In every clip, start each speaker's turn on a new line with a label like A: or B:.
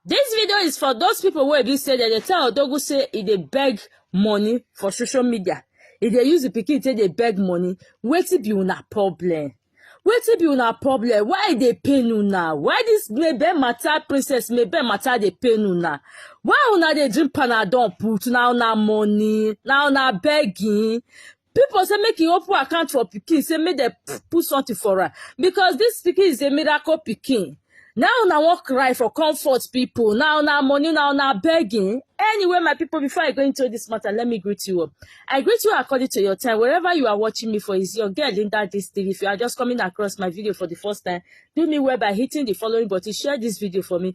A: This video is for those people where be say that they tell Odogu say e dey beg money for social media. If they use the pikin say they beg money, wait to be una problem. Wait to be una problem. Why they pay you now? Why this maybe matter princess maybe matter they pay you now? Why una they drink panadol put now na money now na begging? People say make he open account for pikin, say make dem p- put something for am because this pikin is a miracle pikin. Now una wan cry for comfort people. Now una money, now una begging. Anyway, my people, before I go into this matter, let me greet you up. I greet you according to your time. Wherever you are watching me for is your girl Linda this TV. If you are just coming across my video for the first time, do me well by hitting the following button, share this video for me.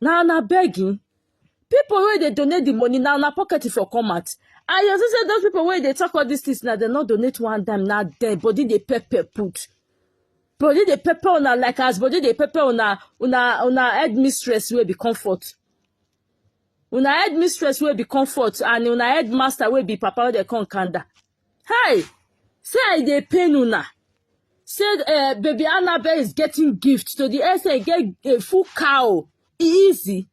A: na una begging people wey dey donate the money na una pocket e for come out and you see say those people wey dey talk all these things na dem no donate one dime na dem body dey pepper put body dey pepper una like as body dey pepper una una una headmistress wey be comfort una headmistress wey be comfort and una headmaster wey be papa wey dey come kanda Hi! Say I dey pain una. Say uh, baby Annabelle is getting gift to the extent get a full cow. E easy.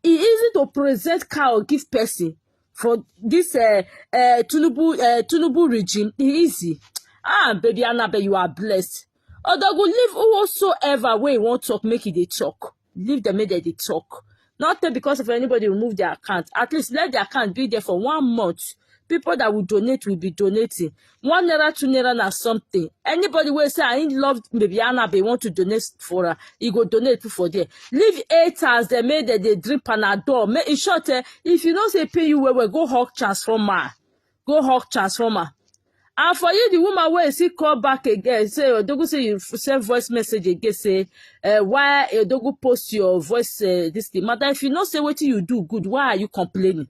A: E easy to present cow give person for this uh, uh, Tunubu, uh, Tunubu regime. E easy. Ah, baby Annabelle, you are blessed. Odogu, leave whosoever way you want talk, make it a talk. leave them make dem dey talk not take because of anybody remove their account at least let the account be there for one month people that will donate will be donating one naira two naira na something anybody wey say i love baby anabe want to donate for her he go donate put for there leave haters dem make dem dey drink panadol make in short eh if you know say e pain you well well go hug transformer go hawk transformer and for you the woman wey still call back again say odogu say you send voice message again say uh, why odogu post your voice uh, this thing madam if you know say wetin you do good why are you complaining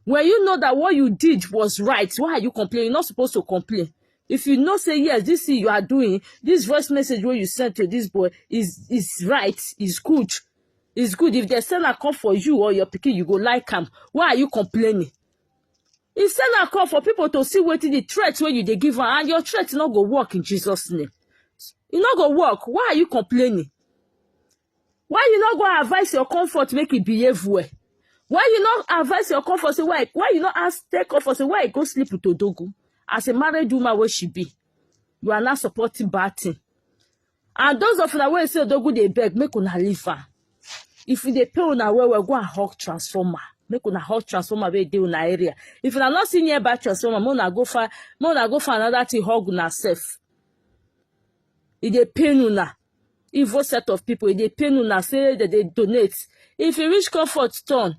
A: when you know that what you did was right why are you complaining you're not supposed to complain if you know say yes this thing you are doing this voice message wey you send to this boy is is right is good is good if they send am come for you or your pikin you go like am why are you complaining He send am come for people to see wetin the threat wey you dey give am and your threat no go work in Jesus name. E no go work. Why are you complaining? Why you no go advise your comfort make e behave well? Why you no advise your comfort say why why you no ask tell comfort say why you go sleep with Odogu as a married woman wey she be? You are not supporting bad thing. And those of una wey say Odogwu dey beg, make una leave am. If e dey pay una well well, go and hawk transformer. Make una hawk transformer wey dey una area. If una no see nearby transformer, make una go find make una go find another thing hug una sef. E dey pain una. Evil set of people, e dey pain una say dem dey donate. If e reach comfort turn,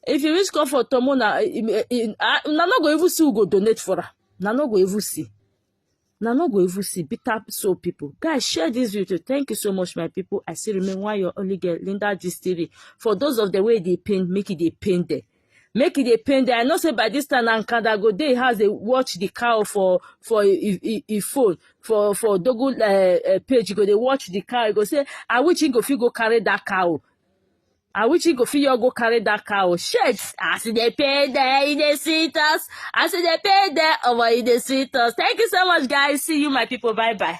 A: if e reach comfort turn, make una e- e- e- ah, una no go even see who go donate for am. Una no go even see. na no go even see bitter soul people guys share this video thank you so much my people i still remain one your only girl linda gist tv for those of the way they pain make it they pain there make it they pain there i know say by this time na nkanda go dey house dey watch the cow for for e phone for for dogo uh, uh, page go they watch the cow e go say i wish he go fit go carry that cow I wish he go fit your go carry that car or shit. As they pay there, he dey sweet us. As they pay there, oh, he dey sweet us. Thank you so much, guys. See you, my people. Bye bye.